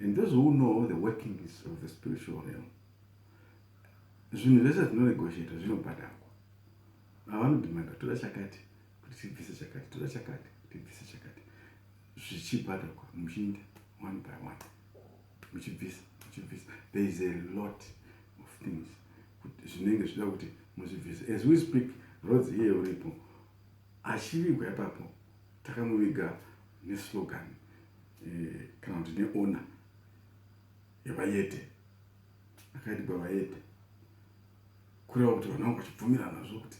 And those who know the workings of the spiritual realm, zvinhu zvese zvinonegotiata zvinobhadharwa avanodimanda toda chakati kuti tibvise chakati toda chakati tibvise chakati zvichibhadharwa muchiinda one by one muchibvisa muchibvisa there is a lot of things zvinenge zvida kuti muzvibvise as we speak roads iye uripo achivigwa ipapo takamuviga neslogan eh, kana kuti neona yevayete akaitwa vayete kureva kuti vanhu vangu vachibvumirana zvo kuti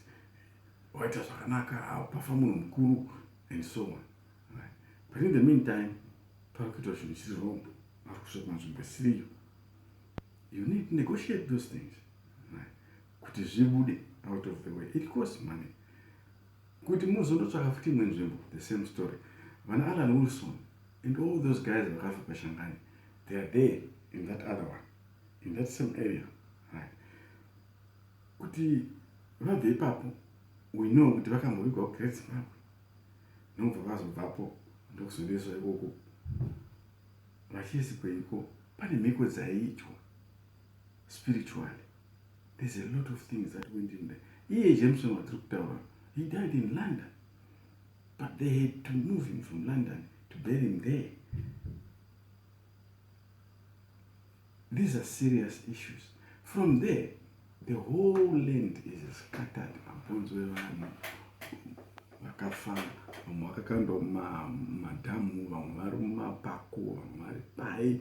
waita zvakanaka pafa munhu mukuru and so on but in the meantime pari kuitwa zvinhu chiri wrong ari kusvika kunzvimbo isiriyo you need to negotiate those things kuti zvibude out of the way it costs money kuti muzonotsvaka futi imwe nzvimbo the same story vana alan wilson and all those guys vakafa pashangani they are there in that other one in that same area right kuti vabve ipapo we know kuti vakambovigwa kugreat zimbabwe nokubva vazobvapo ndokuzoneswa ikoko vachisi kweiko pane mhiko dzaiitwa spiritually there's a lot of things that went in there iye jameson watiri kutaura he died in london but they had to move him from london to bury him there these are serious issues from there the whole land is scattered mabhonzo evanhu vakafa vamwe vakakandwa mumadhamu vamwe vari mumapako vamwe vari pai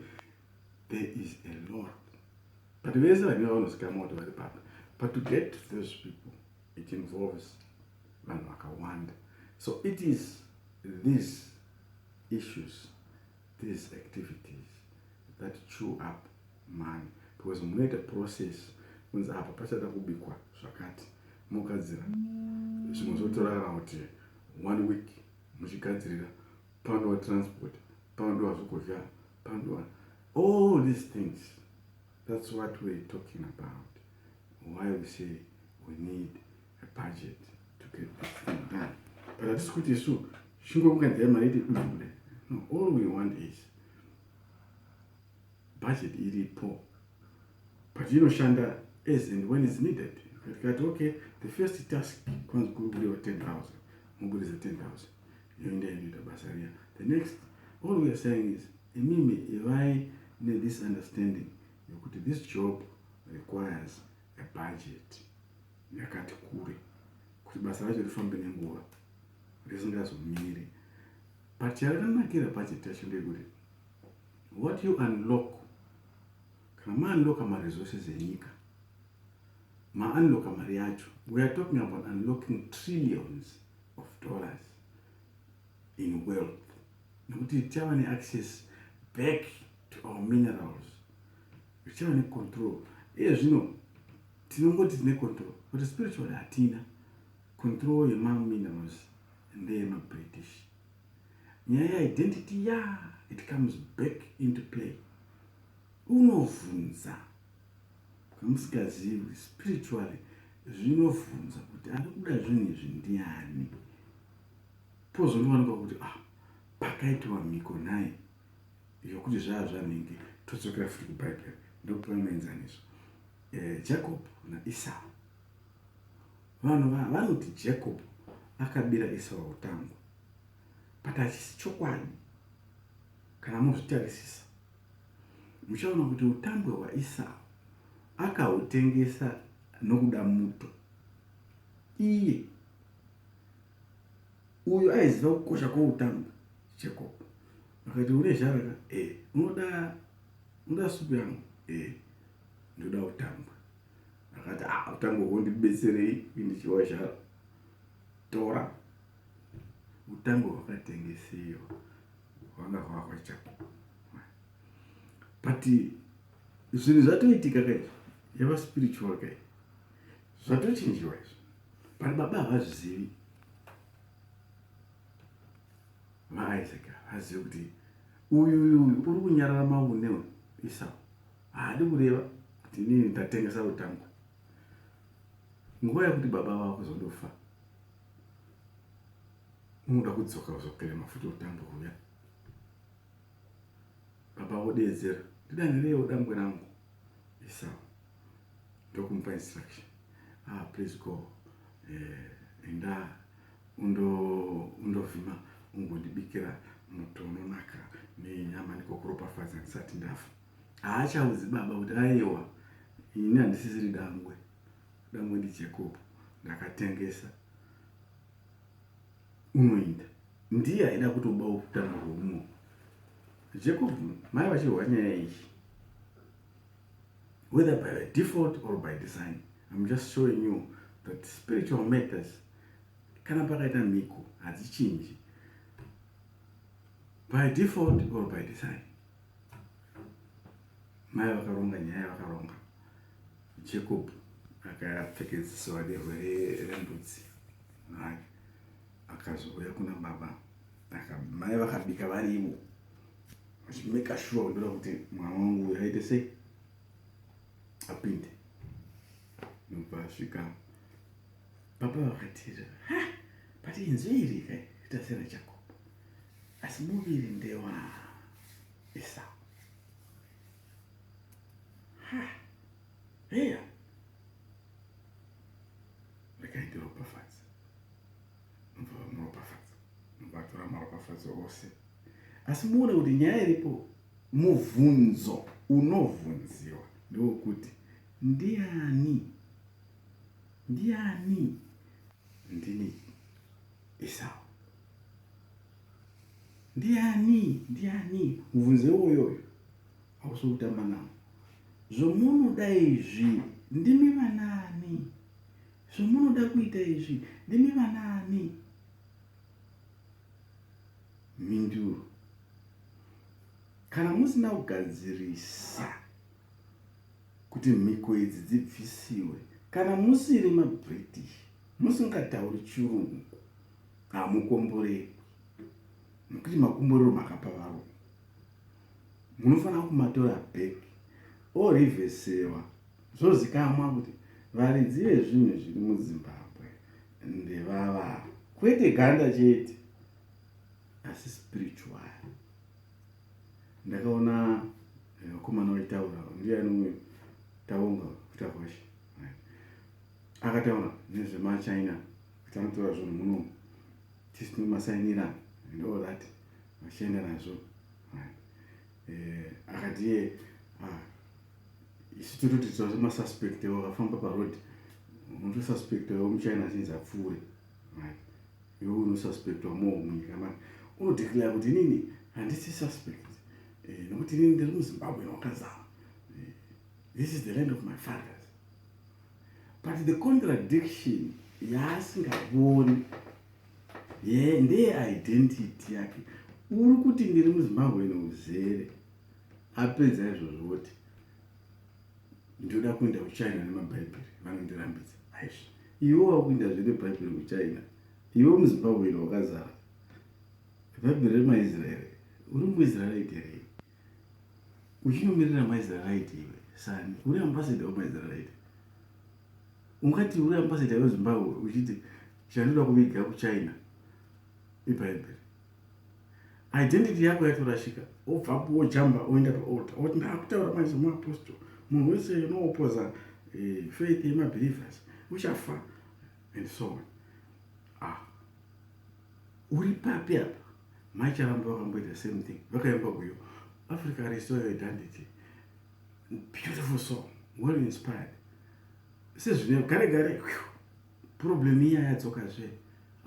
there is a lot but vese vanenge vanozikamwa kuti vari papi but to get to those people it involves vanhu vakawanda so it is these issues these activities that chew up money because munoita process kunzi apa pachada kubikwa zvakati mogadzira zvimwe zvotorara kuti one week muchigadzirira panodiwa transport panodiwa zvokudya panodiwa all these things that's what we're talking about why we say we need a budget to get this thing done but hatisi kuti isu chingokunganzai mari iti dukuda no all we want is budget iripo but inoshanda as and when is needed tikati okay the first task kwanzi kuri kudiwa 10 000 mubudisa 10 000 yoenda inoita basa riya the next all we are saying is imimi ivai nethis understanding yokuti this job requires a budget yakati kure kuti basa racho rifambe nenguva risingazomiri but yarakanakira budget yacho ndeyekuti what you unlock kana maunlocka maresources enyika maunlocka mari yacho we are talking about unlocking trillions of dollars in wealth nekuti tichava neaccess back to our minerals zvichava necontrol iye zvino tinongoti tine control but spiritually hatina control yemaminerals ndeyemabritish nyaya yeidentity ya it comes back into play unovhunza Zvamusingazivi spiritually zvinovhunza kuti ari kuda zvinhu izvi ndiani, pozonowanikwa kuti ah, pakaitiwa mhiko nhai yokuti zvaa zvanhingi todzokera futi kubhaibheri ndokupiwa muenzaniso eh, jacob naisau vanhu vanoti jacob akabira isau utango but achisi chokwadi kana mozvitarisisa Muchaona kuti utambwe hwaIsau akahutengesa nokuda muto. Iye uyo aiziva kukosha kwoutambwe Jacob akati une zharaka e unoda unoda supu yangu e ndoda utambwe akati ah utambwe hwo ndibetserei kundichiwa zhara tora utambwe hwakatengesewa vanga vahwa chapo but zvinhu zvatoitika kai yava spiritual kai zvatochinjiwa izvo but baba havazvizivi maisaac havazivi kuti uyu uyu uyu uri kunyarara maune uyu isau haadi kureva kuti inini ndatengesa utangu nguva yekuti baba vava kuzondofa unoda kudzoka kuzokera mafuta otanga kuuya baba vodeedzera ndidanirewo dambwe rangu esau ndokumupa instruction ah please go eh, enda undovhima ungondibikira muto unonaka nenyama nikokuropafadza ndisati ndafa haachaudzi baba kuti aiwa ini handisisiri dangwe dangwe ndijacob ndakatengesa unoinda ndiye aida kutobawo kutanga rwouno jacob mai vachirwa nyaya iyi whether by the default or by design im just showing you that spiritual matters kana pakaita mhiko hadzichinji by default or by design mai vakaronga nyaya vakaronga jacob akapfekedziso vake rwere rembudzi hake akazouya kuna baba mai vakabika varivo vachimeka shuwa kundoda kuti mwana wangu uyo aite sei apinde nobva asvika baba vakatira but inzwi iri kai ita sera jacob asi muviri ndewa Esau. Ha, heya vakaitiropafadza nobva vamuropafadza nobatora maropafadzo ose asi muone kuti nyaya iripo mubvunzo unovhunziwa ndewokuti ndiani ndiani ndini Esau Ndiani ndiani mubvunzo iwoyoyo hausi kutamba nawo zvomunoda izvi ndimi vanaani zvomunoda kuita izvi ndimi vanaani mhinduro kana musina kugadzirisa kuti mhiko idzi dzibvisiwe kana musiri mabritish musingatauri chirungu hamukomborerwi nokuti makomborero makapa vavo munofanira kumatora back orivesewa zvozikamwa kuti varidzi vezvinhu zviri muzimbabwe ndevavavo kwete ganda chete asi spiritual ndakaona eh, vakomana vaitaura ndiyani uyo taunga kutakwasha akataura nezvemachina Tamutora zvinhu muno tisina masainira and all that vachienda nazvo eh, akati iye ah, isu tototi tova masuspect avo vafamba paroad unotosuspect avo muchina achinzi apfuure iwe unosuspectwa more munyika mani unodeclare kuti inini handisi suspect eh, nokuti inini ndiri muzimbabwe wakazama eh, this is the land of my fathers but the contradiction yaasingavoni ye ndeye identity yake uri kuti ndiri muzimbabwe neuzere apedza izvozvo voti ndoda kuenda kuchina nemabhaibheri vanondirambidza aizvo iwe wakuenda zve nebhaibheri kuchina iwe muzimbabwe ino wakazara bhaibheri remaisraeri uri muisraeri iterei uchinomirira maisraelite iwe sani uri ambassador wemaisraelite ungati uri ambassador wezimbabwe uchiti chandoda kuviga kuchina ibhaibheri identity yako yatorashika obvapo wojamba oenda paalta oti ndaakutaura manje muapostle munhu wese unoopoza eh, faith yemabelievers uchafa and so on uri papi apa mai chavambo vakamboita same thing vakaimba uyo africa restore your identity beautiful song well inspired sezvine gare gare problem iya yadzoka zve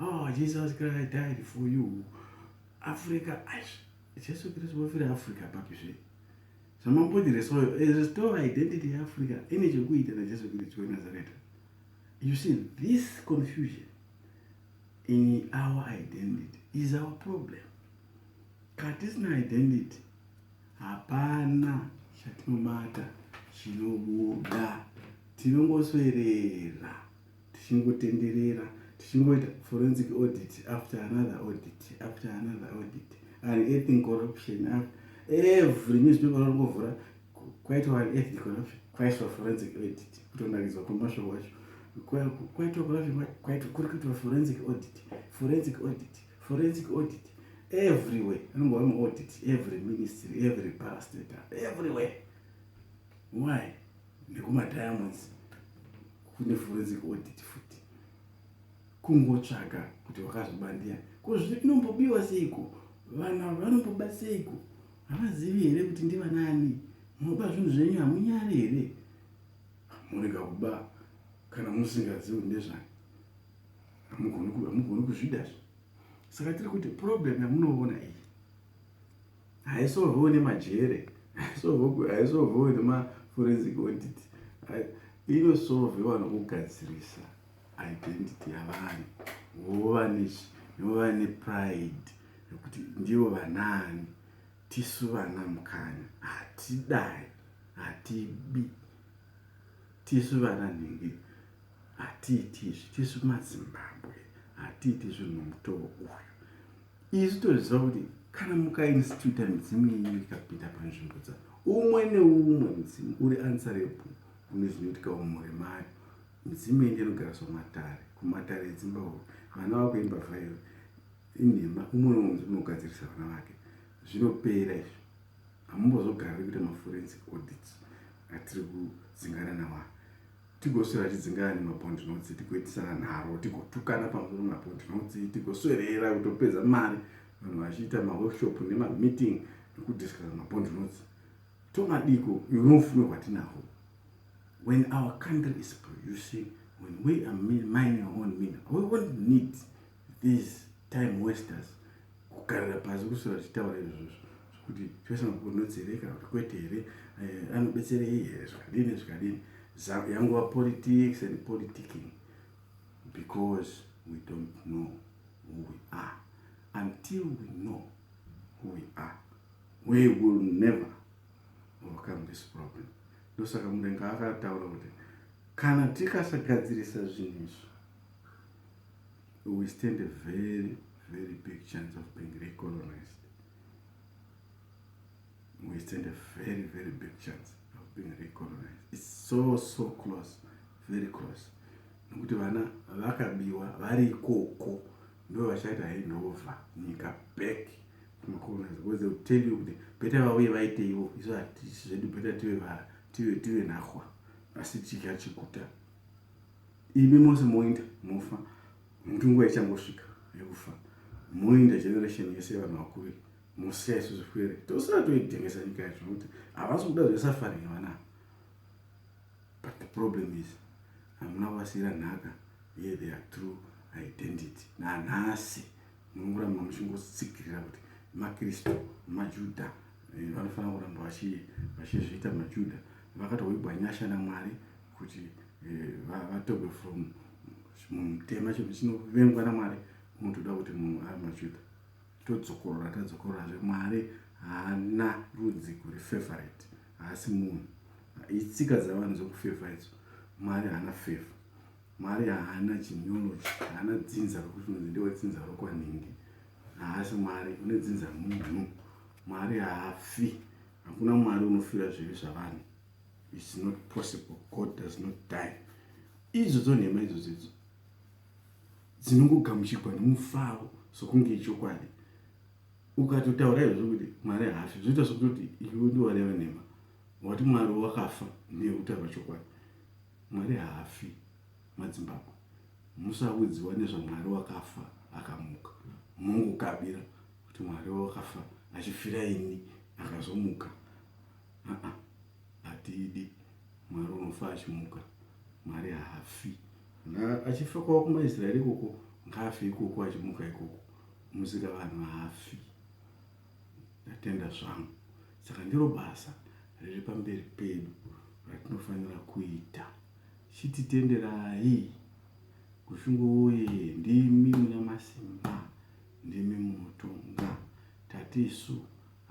oh jesus christ i died for you africa ash jesu kristu vofira africa papi zve zvamamboti restore eh, restore identity yeafrica ine chekuita najesu kristu wenazareta you see this confusion in our identity is our problem katisina identity hapana chatinobata chinobuda tinongoswerera tichingotenderera tichingoita forensic audit after another audit after another audit and eting corruption every newspaper ringovhura kwaitwa an ethnic corruption kwaiswa forensic audit kutonakidzwa kwemashoko acho kwaitwa corruption kwaitwa kuri kuitwa forensic audit forensic audit forensic audit everywhere anongova muaudit every ministry every parastator everywhere why nekumadiamonds kune forensic audit futi kungotsvaga kuti wakazvibandia ko zvinombobiywa seiko vana vanomboba seiko Havazivi here kuti ndivanani? Munoba zvinhu zvenyu hamunyari here? Murega kuba kana musingazivi kuti ndezvani. Hamugoni kuzvida zve. Saka tiri kuti problem yamunoona iyi haisolvewo nemajere haisolvewo nemaforensic audit inosolvewa nokugadzirisa identity yavanhu vova vova nepride yekuti ndivo vanaani tisu vana mukanya hatidai hatibi tisu vana nhingi hatiiti izvi tisu mazimbabwe hatiiti zvinhu mutowo uyu isu toziva kuti kana mukainstituta midzimu yenyu ikapinda panzvimbo dza umwe neumwe mudzimu uri ansarebo kune zvinoitikawo mhuri mayo Midzimu iyi ndinogariswa matare, kumatare edzimba uko vana vako imbavha iyo inhema. Umwe neumwe unogadzirisa vana vake, zvinopera izvi. Hamumbozogariri kuita maforensic audits atiri kudzingana nawa tigoswera tidzingana nemabond notes tigoitisana nharo tigotukana pamusoro mabond notes tigoswerera kutopedza mari vanhu vachiita maworkshop nemameeting nekudiscusa mabond notes tomadiko you know fume hwatinahwo When our country is producing, when we are mining our own mineral, we won't need these time wasters kugarira pasi kusora tichitaura izvozvo kuti tose makunodzereka kuti kwete here eh, anobetserei here zvakadini zvakadini yanguva politics and politicking because we don't know who we are until we know who we are we will never overcome this problem Ndosaka mudenga akataura kuti kana tikasagadzirisa zvinhu izvi we stand a very very big chance of being recolonized we stand a very very big chance of being recolonized its so so close very close nokuti vana vakabiwa vari ikoko ndo vachaita handova nyika back macolonizer because they will tell you kuti beta vauye vaite ivo isu hatisi zvedu beta tive vara tive tive nahwa asi chidya chikuta imi mose moinda mofa muti nguva ichangosvika yekufa moinda generation yese yevanhu vakuru mosiya isu zvifwere tosara toitengesa nyika yacho nokuti havasi kuda zvesafari yevanaa but the problem is hamuna kuvasiyira nhaka ye their true identity nanhasi munoramba muchingotsigirira kuti makristu majudha eh, vanofanira kuramba vachizviita majudha vakatoigwa nyasha namwari kuti eh, vatogwe from mutema chinhu chinovengwa namwari unotoda kuti munhu ari majudha todzokorora tadzokorora zve mwari haana rudzi kuri favorite haasi munhu itsika dzavanhu dzokufevha idzo mwari haana fevha Mwari haana genealogy, haana dzinza rokuti unonzi ndiwe dzinza rokwanhingi. Haasi Mwari, une dzinza munhu. Mwari haafi. Hakuna Mwari unofira zvivi zvavanhu. It's not possible. God does not die. Idzo dzonhema idzo dzidzo dzinongogamuchigwa nomufaro sokunge ichokwadi. Ukatotaura izvo zvokuti Mwari haafi, zvoita sokutoti iwe ndiwareva nhema. Wati Mwari wakafa nekuti havachokwadi. Mwari haafi. Madzimbapo musaudziwa nezvaMwari wakafa akamuka. Mongokabira kuti Mwari wawakafa achifira ini akazomuka. Aa hatiidi Mwari unofa achimuka. Mwari haafi. Kana achifa kwava kumaIsraeri ikoko ngaafe ikoko achimuka ikoko. Musikavanhu haafi. Ndatenda zvangu. Saka ndiro basa riri pamberi pedu ratinofanira kuita. Chititenderai. Gushungo woyee ndimi munamasimba ndimi munotonga tati isu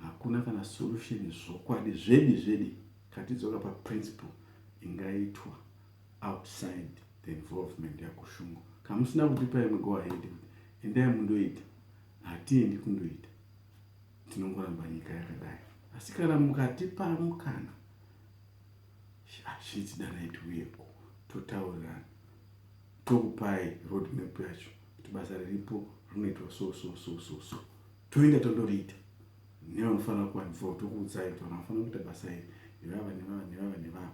hakuna kana solution zvokwadi zvedi zvedi katidzoka pa principle ingaitwa outside the involvement yagushungo kamusina kutipa imwe go ahead kuti endai mundoita hatiendi kundoita tinongoramba nyika yakadai asi kana mukatipa mukana hazviti danai tiuyeko totaurirana tokupai road map yacho kuti basa riripo rinoitwa so so so so so toenda tondoriita nevanofanira kuwanzwa tokuudzai kuti vanhu vanofanira kuita basa iri nevava nevava nevava nevava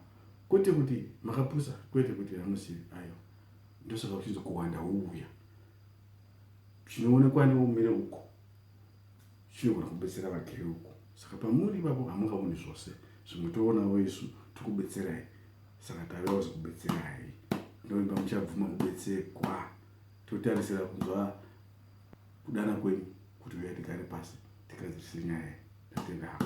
kwete kuti makapusa kwete kuti vamuzivi ayo ndosaka uchinzi kuwanda wouya zvinoonekwa neumire uko zvinogona kubetsera vagere uko saka pamuri ipapo hamungaoni zvose zvimwe toonawo isu tikubetserai saka tavewo zikubetserai ndoimba muchabvuma kubetserwa totarisira kunzwa kudana kwenyu kuti uya tigare pasi tigadzirise nyaya tatendako